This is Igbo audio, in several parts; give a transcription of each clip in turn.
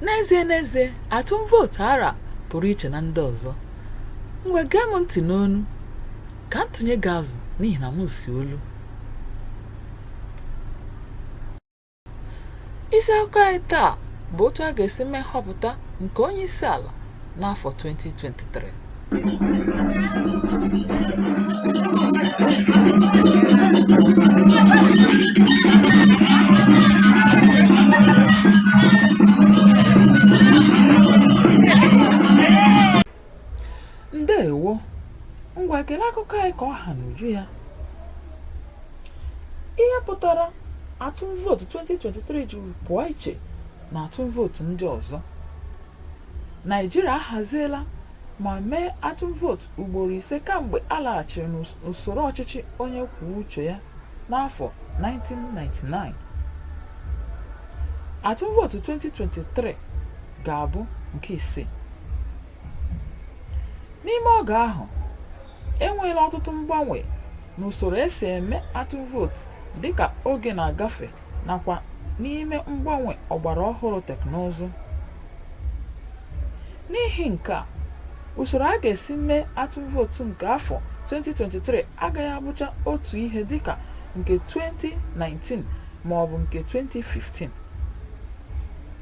n'ezie n'ezie atụm vootu ara pụrụ iche na ndị ọzọ ngwa gee m ntị n'ọnụ ka m tụnye gị azụ n'ihi na m si olu Isi akụkọ anyị taa bụ otu a ga-esi mee nhọpụta nke onye isi ala n'afọ 2023. ndewo ngwa gere akụkọ anyị ka ọ ha n'uju ya ihe pụtara atụm vootu 2023 ji pụọ iche na atụm vootu ndị ọzọ naịjirịa ahaziela ma mee atụm vootu ugboro ise kamgbe a laghachiri n'usoro ọchịchị onye kwuo uche ya n'afọ 1999 atụm vootu 2023 ga-abụ nke ise. N'ime oge ahụ, e nweela ọtụtụ mgbanwe n'usoro e si eme atụm vootu dịka oge na-agafe nakwa n'ime mgbanwe ọgbara ọhụrụ teknụzụ. N'ihi nke a, usoro a ga-esi mee atụm vootu nke afọ 2023 agaghị abụcha otu ihe dịka nke 2019 maọbụ nke 2015.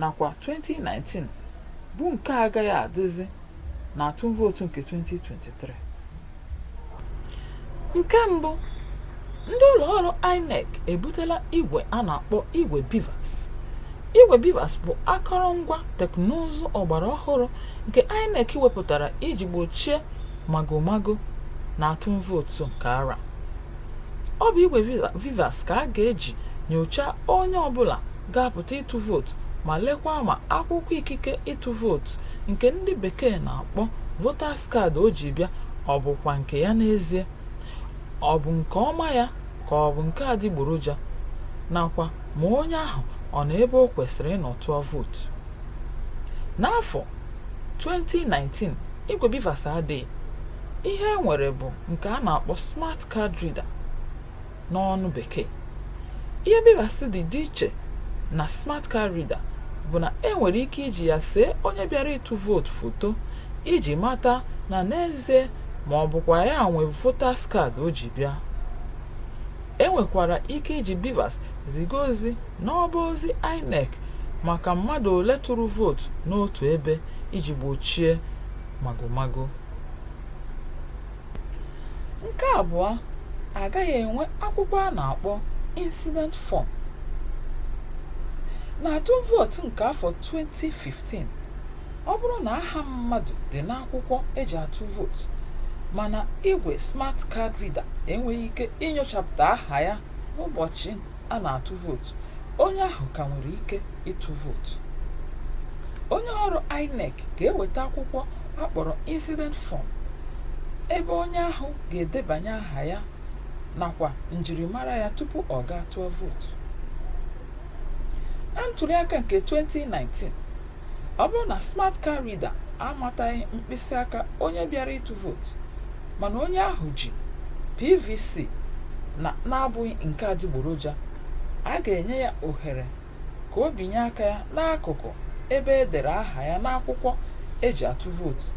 nakwa 2019 bụ nke agaghị adịzi na atụm vootu nke 2023 nke mbụ ndị ụlọ ọrụ INEC ebutela igwe a na-akpọ igwe BVAS igwe BVAS bụ akọrọngwa teknụzụ ọgbara ọhụrụ nke INEC wepụtara iji gbochie magomago na atụm vootu nke ara ọ bụ igwe BVAS ka a ga-eji nyochaa onye ọbụla ga-apụta ịtụ vootu ma lekwa ma akwụkwọ ikike ịtụ vootu nke ndị bekee na-akpọ voters card o ji bịa ọ bụkwa nke ya n'ezie ọ bụ nke ọma ya ka ọ bụ nke adịgboroja nakwa ma onye ahụ ọ nọ ebe o kwesịrị ịnọ tụọ vootu n'afọ 2019 igwe BVAS adịghị ihe e nwere bụ nke a na-akpọ smart card reader n'ọnụ bekee ihe BVAS ji dị iche na smart card reader bụ na e nwere ike iji ya see onye bịara ịtụ vootu foto iji mata na n'ezie ma ọ bụkwa ya nwe voters card o ji bịa e nwekwara ike iji BVAS ziga ozi n'ọba ozi INEC maka mmadụ ole tụrụ vootu n'otu ebe iji gbochie magomago Nke abụọ, a gaghị enwe akwụkwọ a na-akpọ incident form. N'atụm vootu nke afọ 2015, ọ bụrụ na aha mmadụ dị n'akwụkwọ e ji atụ vootu mana igwe smart card reader enweghị ike inyochapụta aha ya n'ụbọchị a na-atụ vootu onye ahụ ka nwere ike ịtụ vootu onye ọrụ INEC ga-eweta akwụkwọ a kpọrọ incident form ebe onye ahụ ga-edebanye aha ya nakwa njirimara ya tupu ọ gaa tụọ vootu na ntuliaka nke 2019 ọ bụrụ na smart card reader amataghị mkpịsị aka onye bịara ịtụ vootu mana onye ahụ ji PVC na na-abụghị nke adịgboroja, a ga-enye ya ohere ka o binye aka ya n'akụkụ ebe e dere aha ya n'akwụkwọ e ji atụ vootu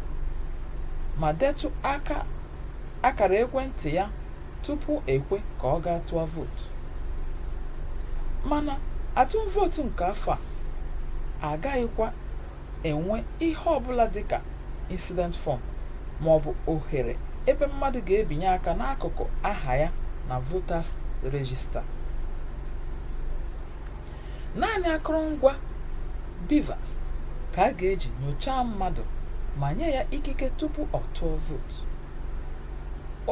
ma detụ aka akara ekwentị ya tupu e kwe ka ọ gaa tụọ vootu. Mana atụm vootu nke afọ a agaghịkwa enwe ihe ọbụla dịka incident form maọbụ ohere ebe mmadụ ga-ebinye aka n'akụkụ aha ya na voters register. Naanị akụrụngwa BVAS ka a ga-eji nyochaa mmadụ ma nye ya ikike tupu ọ tụọ vootu.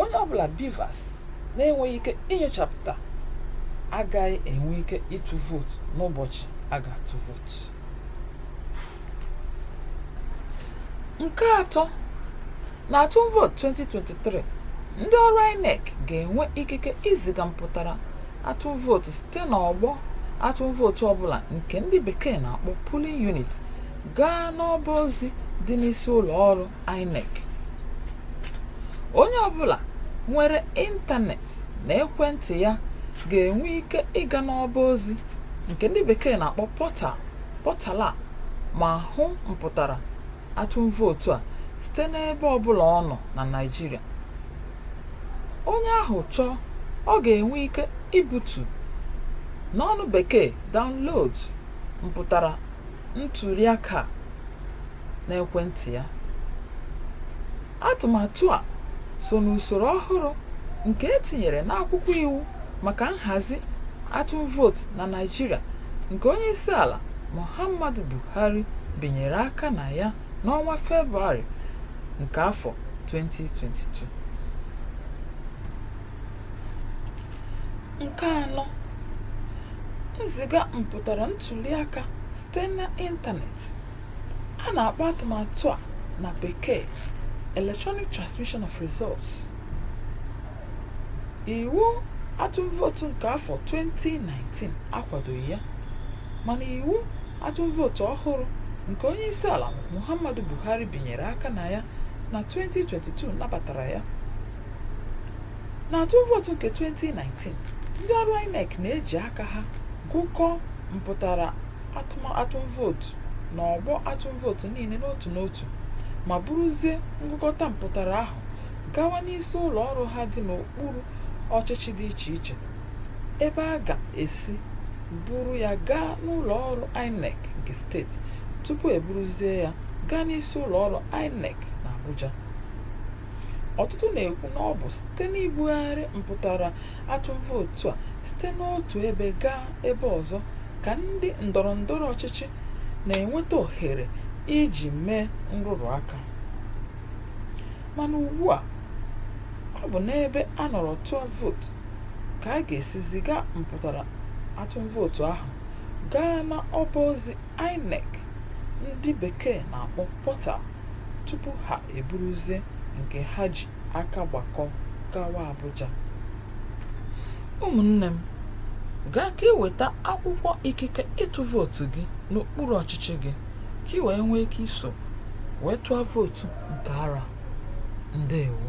Onye ọbụla BVAS na-enweghị ike inyochapụta agaghị enwe ike ịtụ vootu n'ụbọchị a ga-atụ vootu. nke atọ na atụm vootu 2023 ndị ọrụ inec ga-enwe ikike iziga mpụtara atụm vootu site n'ọgbọ atụm vootu ọbụla nke ndị bekee na-akpọ polling unit gaa n'ọba ozi dị n'isi ụlọ ọrụ inec onye ọbụla nwere ịntanetị na ekwentị ya ga-enwe ike ịga n'ọba ozi nke ndị bekee na-akpọ portal portal a ma hụ mpụtara atụm vootu a site n'ebe ọbụla ọ nọ na Naịjirịa onye ahụ chọọ ọ ga-enwe ike ibutu n'ọnụ bekee download mpụtara ntuliaka n'ekwentị ya Atụmatụ a so n'usoro ọhụrụ nke e tinyere n'akwụkwọ iwu maka nhazi atụm vootu na Naịjirịa nke onyeisiala Muhammadu Buhari binyere aka na ya n'ọnwa Febụwarị nke afọ 2022. Nke anọ, nziga mpụtara ntuliaka site n'ịntanetị. A na-akpọ atụmatụ a na Bekee Electronic Transmission of Results. Iwu atụm vootu nke afọ 2019 akwadoghị ya, mana iwu atụm vootu ọhụrụ nke onyeisiala Muhammadu Buhari binyere aka na ya na 2022 nabatara ya. N'atụm vootu nke 2019, ndị ọrụ INEC na-eji aka ha gụkọọ mpụtara atụm atụm vootu na ọgbọ atụm vootu niile n'otu n'otu ma buruzie ngụkọta mpụtara ahụ gawa n'isi ụlọ ọrụ ha dị n'okpuru ọchịchị dị iche iche ebe a ga-esi buru ya gaa n'ụlọ ọrụ INEC nke steeti tupu e buruzie ya gaa n'isi ụlọ ọrụ INEC n'Abuja ọtụtụ na-ekwu na ọ bụ site n'ibugharị mpụtara atụm vootu a site n'otu ebe gaa ebe ọzọ ka ndị ndọrọ ndọrọ ọchịchị na-enweta ohere iji mee nrụrụ aka mana ugbu a ọ bụ n'ebe a nọrọ tụọ vootu ka a ga-esi ziga mpụtara atụm vootu ahụ gaa na ọba ozi INEC ndị bekee na-akpọ portal tupu ha eburuzie nke ha ji aka gbakọ gawa Abuja ụmụnne m gaa ka i weta akwụkwọ ikike ịtụ vootu gị n'okpuru ọchịchị gị ka ị wee nwee ike iso wee tụọ vootu nke arọ a ndewo